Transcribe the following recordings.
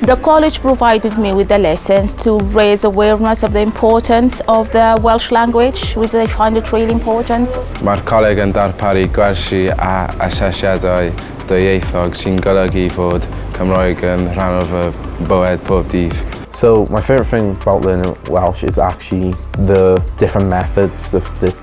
The college provided me with the lessons to raise awareness of the importance of the Welsh language, which I find it really important. Mae'r coleg yn darparu gwersi a asesiadau dwyieithog sy'n golygu bod Cymroeg yn rhan o fy bywyd pob dydd. So my favourite thing about learning Welsh is actually the different methods of the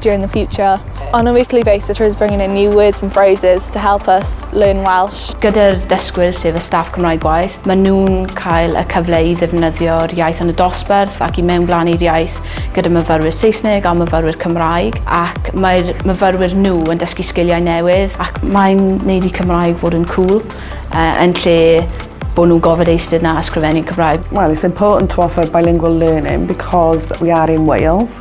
during the future. On a weekly basis, Rose bringing in new words and phrases to help us learn Welsh. Gyda'r dysgwyr sef y staff Cymraeg gwaith, maen nhw'n cael y cyfle i ddefnyddio'r iaith yn y dosbarth ac i mewn blaen i'r iaith gyda myfyrwyr Saesneg a myfyrwyr Cymraeg ac mae'r myfyrwyr nhw yn dysgu sgiliau newydd ac mae'n neud i Cymraeg fod yn cool uh, yn lle bod nhw'n gofod eistedd na ysgrifennu Cymraeg. Well, it's important to offer bilingual learning because we are in Wales.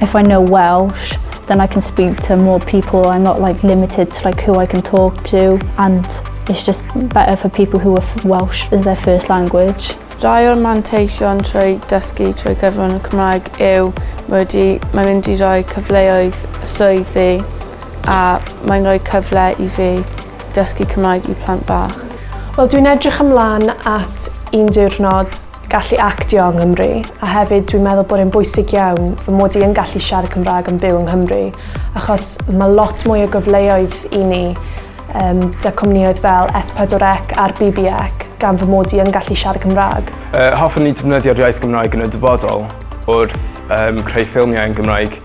If I know Welsh, then I can speak to more people. I'm not like limited to like who I can talk to and it's just better for people who are Welsh as their first language. Rai o'r manteision trwy dysgu trwy gyfrwng y Cymraeg yw mae mae'n mynd i roi cyfleoedd swyddi a mae'n rhoi cyfle i fi dysgu Cymraeg i plant bach. Wel dwi'n edrych ymlaen at un diwrnod gallu actio yng Nghymru, a hefyd dwi'n meddwl bod e'n bwysig iawn fy mod i yn gallu siarad Cymraeg yn byw yng Nghymru, achos mae lot mwy o gyfleoedd i ni um, da cwmnïoedd fel S4C a'r BBEC gan fy mod i yn gallu siarad Cymraeg. Uh, hoffwn ni defnyddio'r iaith Gymraeg yn y dyfodol wrth um, creu ffilmiau yn Gymraeg